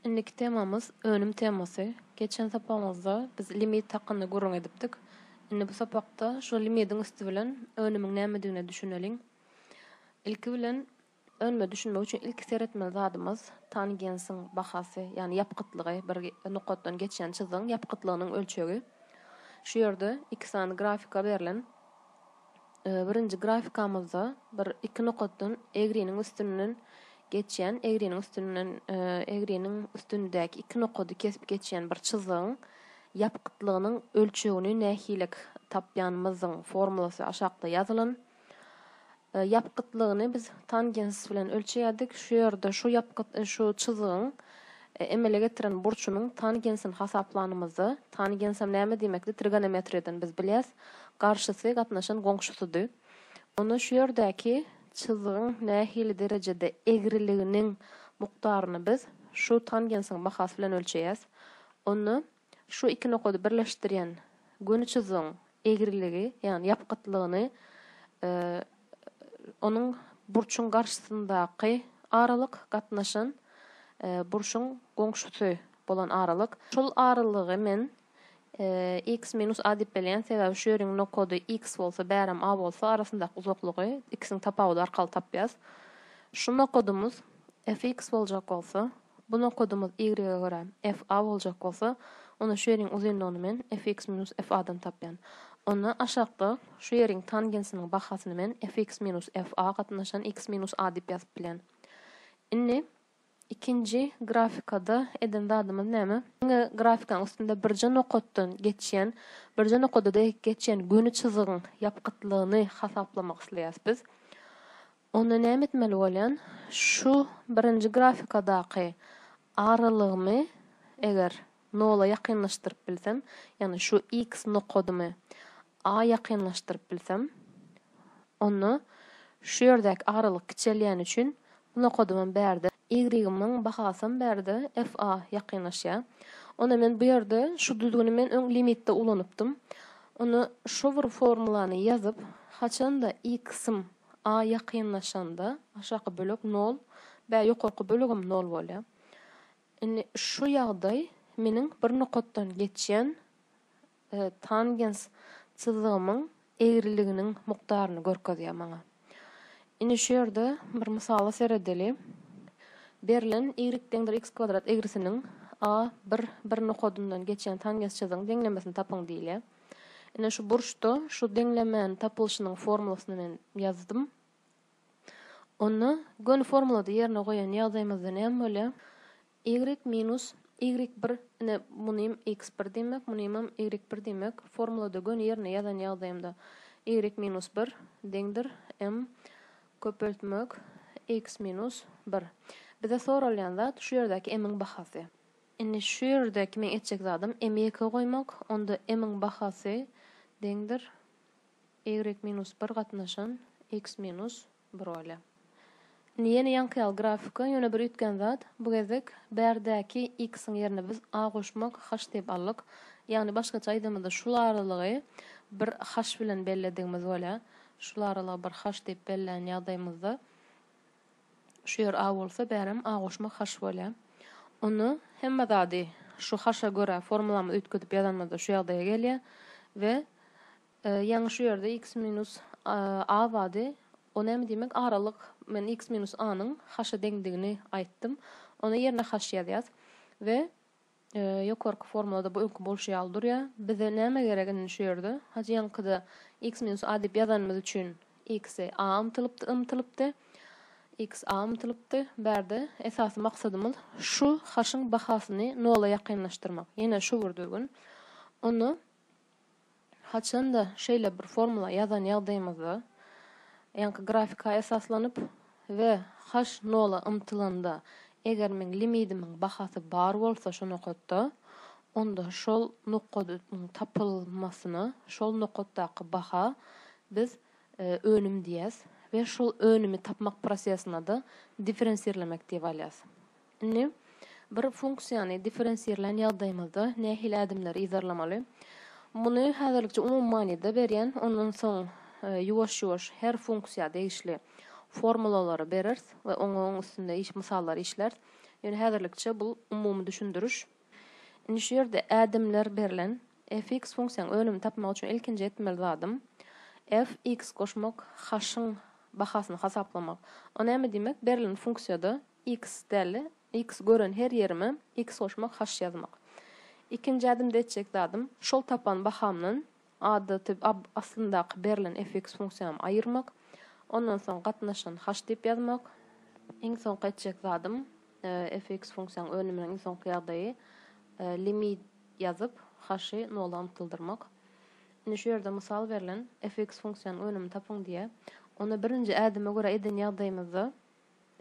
Indiki temamyz önüm temasy. Geçen sapagymyzda biz limit hakynda gürrüň edipdik. Indi bu sapakda şo limidiň üsti bilen önümiň nämedigine düşüneliň. Ilki bilen önüme düşünmek üçin ilki seretmeli zadymyz tangensiň bahasy, ýagny ýapgytlygy, bir nokatdan geçýän çyzygyň ýapgytlygynyň ölçegi. Şu ýerde iki sany grafika berlen. Birinji grafikamyzda bir iki nokatdan egriniň üstünden geçýän, egriniň üstünden egriniň üstündäki iki nokady kesip geçýän bir çyzygyň ýapgytlygynyň ölçegini nähilek tapýanymyzyň formulasy aşakda ýazylan. Ýapgytlygyny biz tangens bilen ölçeýärdik. Şu ýerde şu ýapgyt şu çyzygyň Emele getiren burçumyň tangensini hasaplanymyzda, tangensem näme diýmekdi, trigonometriýadan biz bilýäs, garşysy gatnaşan goňşusydy. Onda şu ýerdäki çyzgyň nähili derejede egriliginiň mukdaryny biz şu tangensiň bahasy bilen ölçeýäs. Onda Şu iki nokady birleşdirýän göni çyzygyň egriligi, ýagny ýapgytlygyny onuň burçuň garşysyndaky aralyk gatnaşan burçuň goňşusy bolan aralyk. Şol aralygy men x minus a diýip belýän, sebäbi şu ýeriň nokady x bolsa, bärem a bolsa, arasyndaky uzaklygy x-iň tapawudy arkaly tapýas. Şu nokadymyz fx boljak bolsa, Bu nokadymyz y-e görä, f-a boljak bolsa, onda şu ýeriň uzynlygyny men fx minus f-a-dan tapýan. Onda aşakda şu ýeriň tangensiniň bahasyny men fx minus f-a gatnaşan x minus a diýip ýazyp bilýän. Indi ikinji grafikada eden zadymyz näme? Diňe grafikaň üstünde birje nokatdan geçýän, birje nokada dek geçýän göni çyzygyň ýapgytlygyny hasaplamak isleýäs biz. Onda näme etmeli bolýan? Şu birinji grafikadaky aralygymy eger nola ýakynlaşdyryp bilsem, ýagny şu X nokadymy A ýakynlaşdyryp bilsem, onda şu ýerdäki aralyk kiçelýäni üçin bu nokadymam bärde, Y-ymiň bahasam bärde F A ýakynlaşýa. Onda men bu ýerde şu düzgüni men öň limitde ulanypdym. Onda şu bir formulany ýazyp, haçanda X-ym A ýakynlaşanda aşaky bölek nol bä ýokarky bölegem nol bolýar. Indi şu ýagdaý meniň bir nokatdan geçýän tangens çyzygymyň egriliginiň mukdaryny görkezýär maňa. Indi şu ýerde bir mysala seredeli. Berlen y deňdir x kwadrat egrisiniň a bir bir nokadyndan geçýän tangens çyzygyň deňlemesini tapyň diýilýär. Ine şu burçda şu deňlemäniň tapylyşynyň formulasyny men ýazdym. Onda göni formulada ýerine goýan ýagdaýymyzda näme bolýar? Y minus Y1 ine munym X1 diýmek, munymam Y1 diýmek. Formulada göni ýerine ýazan ýagdaýymda Y minus 1 deňdir M köpeltmek X minus 1. Bize soralýan zat şu ýerdäki M-iň bahasy. Indi şu ýerde kimin etjek zadym m-i ýeke goýmak, onda m-iň bahasy deňdir y minus bir gatnaşan x minus bir bolýar. Indi ýene ýaňky ýaly grafika, ýöne bir üýtgän zat, bu gezek bärdäki x-iň ýerine biz a goşmak h diýip aldyk. Ýagny başgaça aýdymyzda şul aralygy bir h bilen belledigimiz bolýar. Şul aralygy bir h diýip bellän ýagdaýymyzda Şu ýer A bolsa, bärem A goşmak haş bolýar. Onda hemme zady şu haşa görä formulamyzy üýtgedip ýazanymyzda şu ýagdaýa gelýär we ýaňy şu ýerde x minus A bardy. O näme diýmek? Aralyk men x minus A-nyň haşa deňdigini aýtdym. Onda ýerine haş ýazýas we Ýokarky formulada bu öňki bolşy ýaly durýa. Bize näme gerek indi şu ýerde? Hajy ýaňkyda x minus a diýip ýazanymyz üçin x-e a ymtylypdy, ymtylypdy. X a ymtylypdy. Bärde esasy maksadymyz şu h-yň bahasyny nola ýakynlaşdyrmak. Ýene şu bir düzgün. Onda Haçan-da şeýle bir formula ýazan ýagdaýymyzda, ýaňky grafika esaslanyp, we h nola ymtylanda, eger meň limidimiň bahasy bar bolsa şu nokatda, onda şol nokadyň tapylmasyna şol nokatdaky baha biz önüm diýýäs we şol önümi tapmak prosesine-de differensirlemek diýip alýas. Indi bir funksiýany differensirlän ýagdaýymyzda nähili ädimleri yzarlamaly? Muny häzirlikçe umumy manyda berýän, ondan soň ýuwaş-ýuwaş her funksiýa degişli formulalary bereris we oňaň üstünde iş mysallary işläris. Ýöne häzirlikçe bu umumy düşündiriş. Indi şu ýerde ädimler berlen. Fx funksiýanyň önümini tapmak üçin ilkinji etmeli zadym fx goşmak, h-yň bahasyny hasaplamak. O näme diýmek? Berlen funksiýada X däli, X gören her ýerime X goşmak haş ýazmak. Ikinji ädimde etjek zadym. Şol tapan bahamdan adaty ab aslyndaky berlen fx funksiýamy aýyrmak. Ondan soň gatnaşan haş diýip ýazmak. Iň soňky etjek zadym, fx funksiýanyň önüminiň iň soňky ýagdaýy limit ýazyp haşy nola ymtyldyrmak. Indi şu ýerde mysal berlen, fx funksiýanyň önümini tapyň diýýär. Onda birinji ädime görä eden ýagdaýymyzda.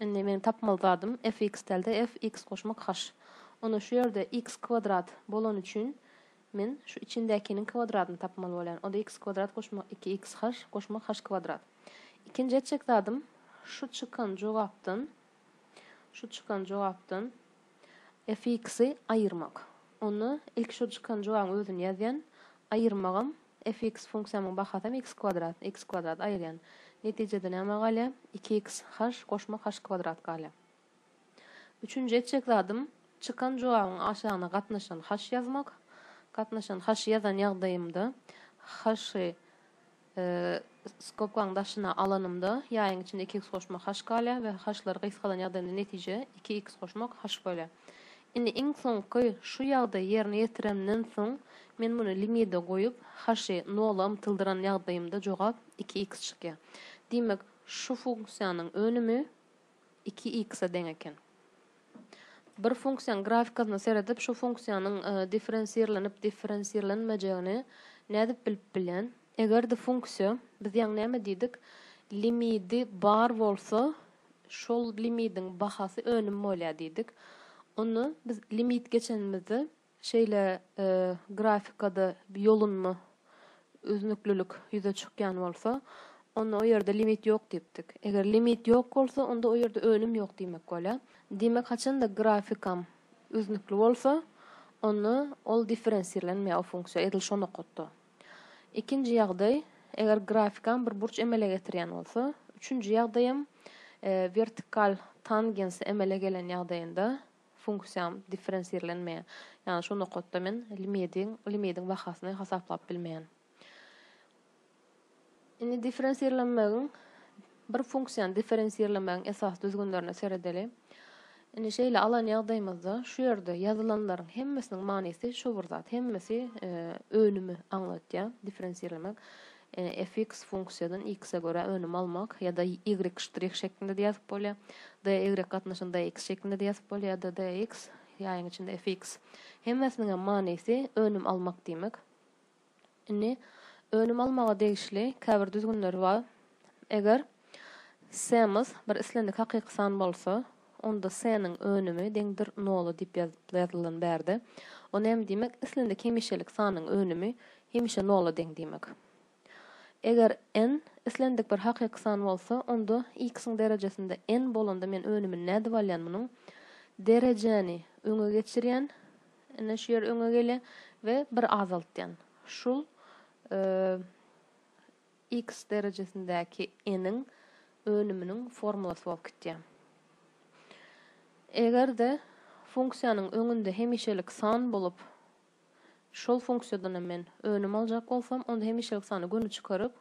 Indi meniň tapmaly zadym fx dälde fx goşmak haş. Onda şu ýerde x kwadrat bolany üçin men şu içindäkiniň kwadradyny tapmaly bolýan. Onda x kwadrat goşmak iki x haş goşmak haş kwadrat. Ikinji etjek zadym şu çykan jogapdan şu çykan jogapdan Affiksi aýyrmak. Onda ilki şo çykan jogabyň özüni ýazýan. Aýyrmagam affiks funksiýamyň bahasam x kwadrat. X kwadrat aýyrýan. Netijede näme galýar? Iki x haş goşmak haş kwadrat galýar. Üçünji etjek zadym çykan jogabyň aşagyna gatnaşan haş ýazmak. Gatnaşan haşy ýazan ýagdaýymda haşy Skobkaň daşyna alanymda, ýaýyň içinde iki iks goşmak haş galýar we haşlary gysgadan ýagdaýynda netije, iki iks goşmak haş bolýar. Indi iň soňky şu ýagdaýy ýerine ýetirenimden soň, men muny limide goýup, haşy nola ymtyldyran ýagdaýymda jogap iki iks çykýar. Diýmek, şu funksiýanyň önümi. iki x-a deň eken. Bir funksiýanyň grafikasyna seredip, şu funksiýanyň differensirlenip differensirlenmejegini nädip bilip bilen? Eger-de funksiýa, biz ýaňy näme diýdik, limidi bar bolsa, şol limidiň bahasy önüm bolýar diýdik. Onda biz limit geçenimizde Şeýle grafikada ýolunma, üznüklilik ýüze çykýan bolsa, onda o ýerde limit ýok diýipdik. Eger limit ýok bolsa, onda o ýerde önüm ýok diýmek bolýar. Diýmek, haçan-da grafikam üznükli bolsa, onda ol differensirlenmeýär, o funksiýa, edil şo nokatda. Ikinji ýagdaý, eger grafikam bir burç emele getirýän bolsa, üçünji ýagdaýam, wertikal tangens emele gelen ýagdaýynda, funksiýam differensirlenmeýär. Ýagny şu nokatda men limidiň limidiň bahasyny hasaplap bilmeýän. Indi differensirlenmegiň bir funksiýany differensirlemegiň esasy düzgünlerine seredeli. Indi şeýle alan ýagdaýymyzda şu ýerde ýazylanlaryň hemmesiniň manysy şu bir zat. Hemmesi e, önümi aňlatýar differensirlemek. Fx funksiýadan x-e görä önüm almak, ýa-da y ştrih şeklinde-de ýazyp bolýar. Dy gatnaşyny dx şeklinde-de ýazyp bolýar, ýa-da dx, ýaýyň içinde fx. Hemmesiniň hem manysy önüm almak diýmek. Indi önüm almaga degişli käbir düzgünler bar. Eger s-miz bir islendik hakyky san bolsa, Onda s-niň önümi deňdir nola diýip ýazylan bärde. O näme diýmek? Islendik hemişelik sanyň önümi hemişe nola deň diýmek. Eger n islendik bir hakyky san bolsa, onda x-iň derejesinde n bolanda men önümini nädip alýan munuň? Derejäni öňe geçirýän, ine şu ýer öňe gelýär, we bir azaltýan. Şul. X derejesindäki n-iň önüminiň formulasy bolup gitýär. Eger-de funksiýanyň öňünde hemişelik san bolup, şol funksiýadan hem men önüm aljak bolsam, onda hemişelik sany göni çykaryp,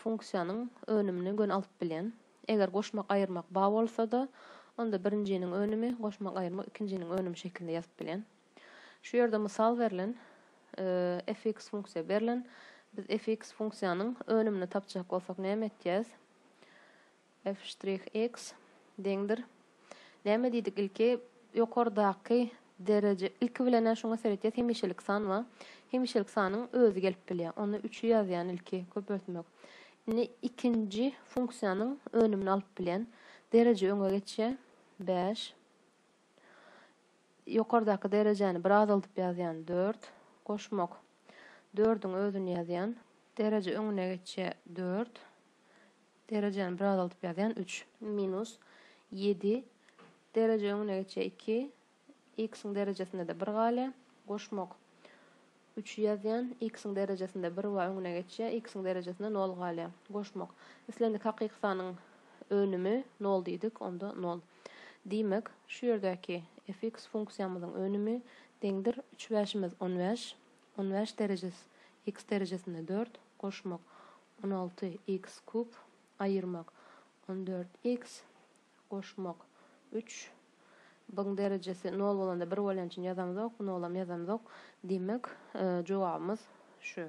funksiýanyň önümini göni alyp bilýän. Eger goşmak-aýyrmak ba bolsa-da, onda birinjiniň önümi, goşmak-aýyrmak ikinjiniň önümi şekilinde ýazyp bilýän. Şu ýerde mysal berlen, fx funksiýa berlen. Biz fx funksiýanyň önümini tapjak bolsak näme etýäs? f'x deňdir. Näme diýdik ilki? Ýokardaky dereje, ilki bilen-ä şuňa seretýäs, hemişelik san ba. Hemişelik sanyň özi gelip bilýär. Onda üçi ýazýan ilki, köpeltmek. Indi ikinji funksiýanyň önümini alyp bilýän. Dereje öňe geçýär, bäş. Ýokardaky derejäni bir azaldyp ýazýan, dört. Goşmak. Dördüň özüni ýazýan. Dereje öňüne geçýä, dört. Derejäni bir azaldyp ýazýan, üç. Minus. Ýedi. Dereje öňüne geçýä, iki. X-iň derejesinde-de bir galýa. Goşmak. Üçi ýazýan, x-iň derejesinde bir wa öňüne geçýär, x-iň derejesinde nol galýar. Goşmak. Islendik hakyky sanyň önümi nol diýdik, onda nol. Diýmek, şu ýerdäki fx funksiýamyzyň önümi deňdir, üç bäşimiz on bäş, on bäş derejes x derejesinde dört, goşmak, on alty x kub, aýyrmak, on dört x, Goşmak. Üç. Byň derejesi nol bolanda bir bolýan üçin ýazamzok, nolam ýazamzok. Demek, jogabymyz şu.